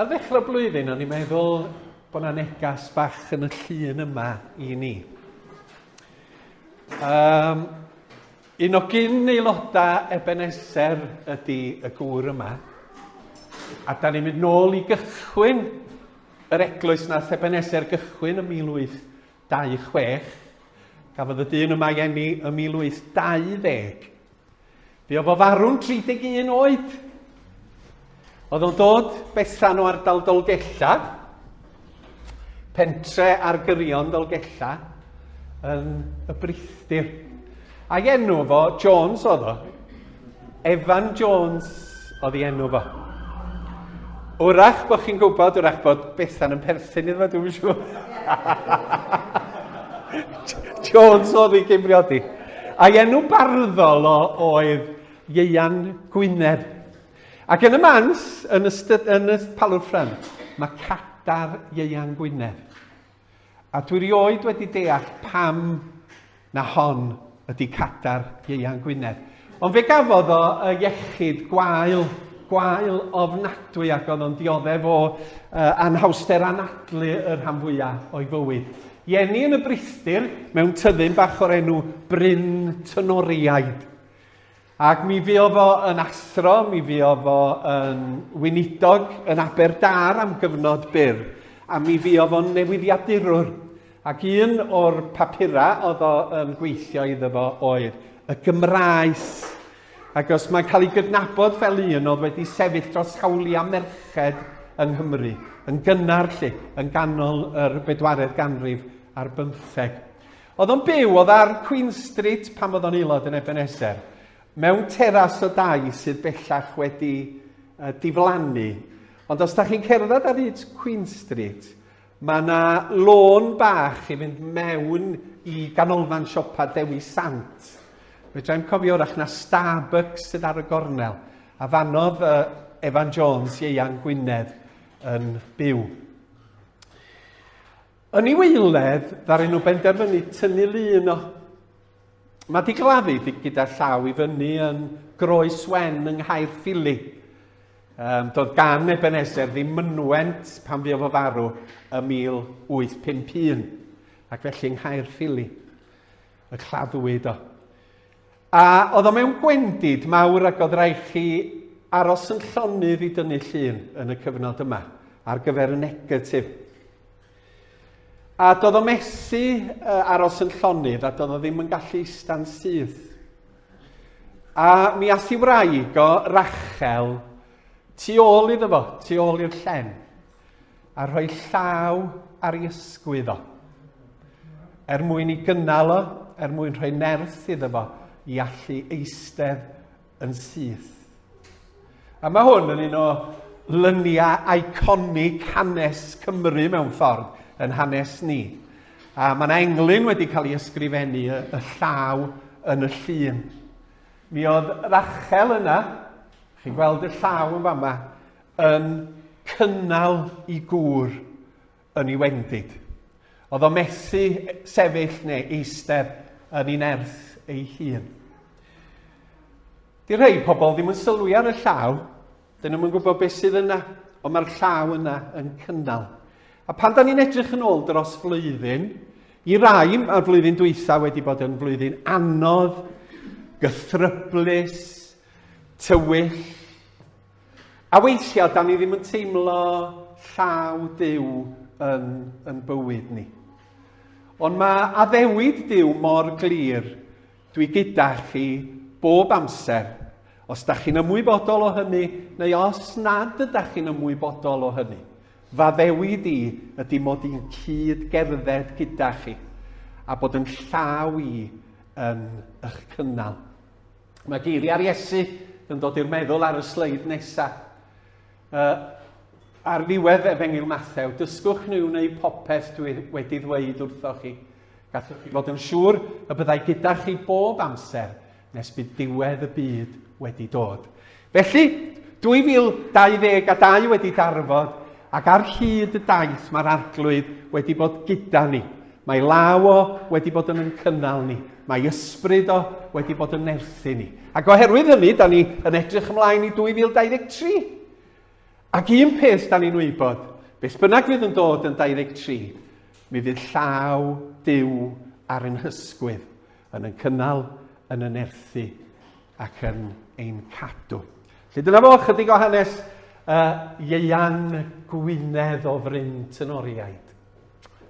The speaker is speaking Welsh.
Ar ddechrau blwyddyn, o'n i'n meddwl bod yna negas bach yn y llun yma i ni. Um, un o gyn aelodau Ebenezer ydy y gŵr yma. A da ni'n mynd nôl i gychwyn yr eglwys na Ebenezer gychwyn ym 1826. Gafodd y dyn yma i enni ym 1820. Bu o fo farw'n 31 oed. Oedd o'n dod besan o ardal Dolgella, pentre ar gyrion Dolgella, yn y brithdir. Ac enw fo Jones oedd o. Evan Jones oedd ei enw fo. Wrach bod chi'n gwybod, wrach bod Bethan yn perthyn iddo fo, dwi'n siŵr. Jones oedd ei gymriodi. A'i enw barddol o oedd Ieuan Gwynedd. Ac yn y mans, yn y, styd, yn y palwrffren, mae cadar Ieuan Gwynedd. A dwi rioed wedi deall pam na hon ydy cadar Ieuan Gwynedd. Ond fe gafodd o y iechyd gwael, gwael ofnadwy ac oedd o'n dioddef o uh, anhawster anadlu y rhan fwyaf o'i fywyd. Jenny yn y Brithyr mewn tyddyn bach o'r enw Bryn Tynoriaid. Ac mi fi o fo yn athro, mi fi o fo yn wynidog yn Aberdâr am gyfnod byr, a mi fi o fo'n newyddiadurwr. Ac un o'r papurau oedd o'n gweithio iddo fo oedd y Gymraes. Agos, mae'n cael ei gydnabod fel un oedd wedi sefyll dros hawliau merched yng Nghymru, yn gynnar lle, yn ganol yr bedwaredd ganrif ar bymtheg. Oedd o'n byw, oedd ar Queen Street pan oedd o'n aelod yn Ebenezer, mewn teras o dai sydd bellach wedi diflannu. Ond os da chi'n cerdded ar hyd Queen Street, Mae yna lôn bach i fynd mewn i ganolfan siopa Dewi Sant. Fedrai'm cofio wrach na Starbucks sydd ar y gornel, a fanodd uh, Evan Jones ieuan Gwynedd yn byw. Yn ei weiledd, ddaru nhw benderfynu tynnu lun o. Mae di gladdu gyda llaw i fyny yn Groes Wen yng Nghaerffili. Um, doedd gan Ebenezer ddim mynwent pan fuodd o farw y 1851, ac felly yng Nghaerffili y claddwyd o. A oedd o mewn gwendid mawr ac oedd rhaid chi aros yn llonydd i dynnu llun yn y cyfnod yma ar gyfer y negatif. A doedd o mesu uh, aros yn llonydd a doedd o ddim yn gallu ista'n syth. A mi ath i wraig o, Rachel, tu ôl iddo fo, tu ôl i'r llen, a rhoi llaw ar ei ysgwydd o, er mwyn i gynnal o, er mwyn rhoi nerth iddo fo i allu eistedd yn syth. A mae hwn yn un o lyniau iconig hanes Cymru mewn ffordd, yn hanes ni. A mae yna englyn wedi cael ei ysgrifennu y, y llaw yn y llun. Mi oedd Rachel yna, chi'n gweld y llaw yn fama, yn cynnal i gŵr yn ei wendid. Oedd o methu sefyll neu eistedd yn ei nerth ei hun. Di rhai pobl ddim yn sylwi ar y llaw, Dyn nhw'm yn gwybod beth sydd yna, ond mae'r llaw yna yn cynnal. A pan da ni'n edrych yn ôl dros flwyddyn, i rai mae'r flwyddyn dwytha wedi bod yn flwyddyn anodd, gythryblus, tywyll. A weithiau, da ni ddim yn teimlo llaw Dyw yn, yn bywyd ni. Ond mae addewid Dyw mor glir Dwi gyda chi bob amser, os da chi'n ymwybodol o hynny neu os nad ydach chi'n ymwybodol o hynny. Faddewid i ydy mod i'n cyd gerdded gyda chi a bod yn llaw i yn eich cynnal. Mae geiriau'r Iesu yn dod i'r meddwl ar y sleid nesaf. Uh, ar ddiwedd Efengyl Mathew, dysgwch nhw wneud popeth dwi wedi ddweud wrthoch chi. Gallwch chi fod yn siŵr y byddai gyda chi bob amser nes bydd diwedd y byd wedi dod. Felly, 2022 wedi darfod ac ar hyd y daith mae'r Arglwydd wedi bod gyda ni. Mae law o wedi bod yn yn cynnal ni. Mae ysbryd o wedi bod yn nerthu ni. Ac oherwydd hynny, da ni yn edrych ymlaen i 2023. Ac un peth 'dan ni'n wybod, beth bynnag fydd yn dod yn 23, mi fydd llaw Duw ar ein hysgwydd, yn yn cynnal, yn yn erthu ac yn ein cadw. Felly dyna fo chydig o hanes uh, Ieian Gwynedd o Fryn Tynoriaid.